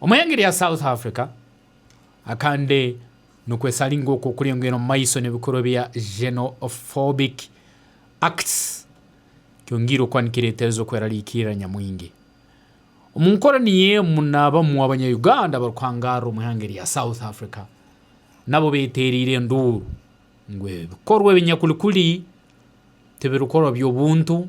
Omwenge rya South Africa akande nukwesa ari ngu okwo kurengo eri omu maiso nebikorwa bya xenophobic acts kyonga irukwa nikiretereza okwerarikirira nyamwingi. Omu nkoro niyo emu nabamu abanya Uganda abarukuhangarira omu ihanga erya South Africa nabo betereire enduuru ngu ebikorwa ebinyakuri kuri tibirukorwa byobuntu.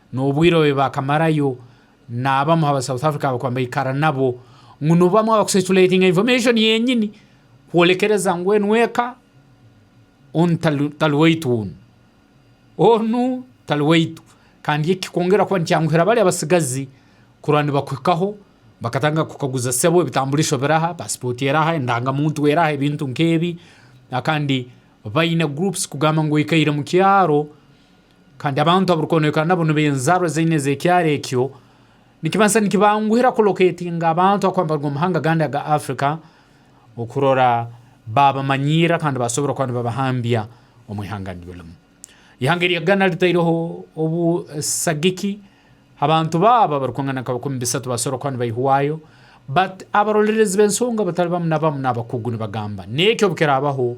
N'obwire obu baakamarayo n'abamu ha ba South Africa abakuba nibaikara nabo, ngu nibo bamwe abakucirculatinga information yenyini kwolekereza ngu onu eka, onu tari waitu onu, onu tari waitu. Kandi eki kikwongera kuba nikyanguhira bari abatsigazi kurora nibakuhikaho bakatandika kukukaguza sebo ebitamburisho biraha, passport eraha, endangamuntu eraha, ebintu nk'ebi. Kandi baine groups kugamba ngu oikaire mukyaro. Kandi abantu abarikwonoeka nabo nibo enzaarwa ezaine ez'ekyaro ekyo. Nikibaasa nikibanguhira kulokeetinga abantu ahakuba nibaruga omu mahanga agandi aga Africa okurora baabamanyiira kandi baasobora kuba nibabahambya omu ihanga niryo rimu. Ihanga erya Ghana ritaireho obu sagiki abantu baabo abarikungana nka bikumi bisatu baasobora kuba nibaihwayo. But abarolerezi b'ensonga batari bamu na bamu n'abakugu nibagamba n'ekyo obu kiraabaho,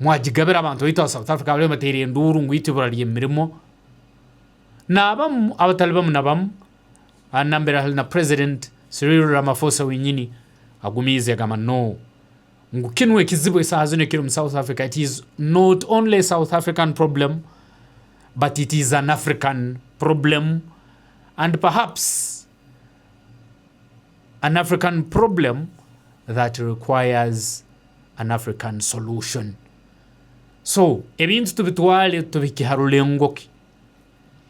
Mwagigabira abantu baitu aba South Africa abariyo nibateera enduuru ngu itwe ibura ry'emirimo naabamu abatari bamu na bamu nambere ahari na president Cyril Ramaphosa wenyini agumiize agamba no ngu kinu ekizibu esaaha zinu ekiri omu South Africa it is not only a South African problem but it is an African problem and perhaps An African problem that requires an African solution. So ebintu tubitware tubihikye ha rurengo ki?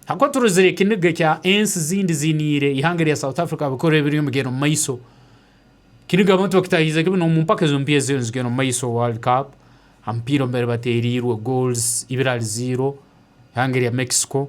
Ahakuba turozire ekiniga ekya ensi zindi ziniire ihanga erya South Africa bikoro ebiriyo nibigenda omu maiso. Kiniga abamwe tibakitahiize ki binu omu mpaka ezo mpiha eziriyo nizigenda omu maiso World Cup. Aha mupiira omubere bateereirwe goals ibiri ahari ziiro ihanga erya Mexico.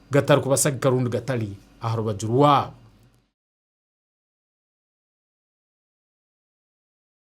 gatarikubasagika rundi gatari aha rubaju rwabo.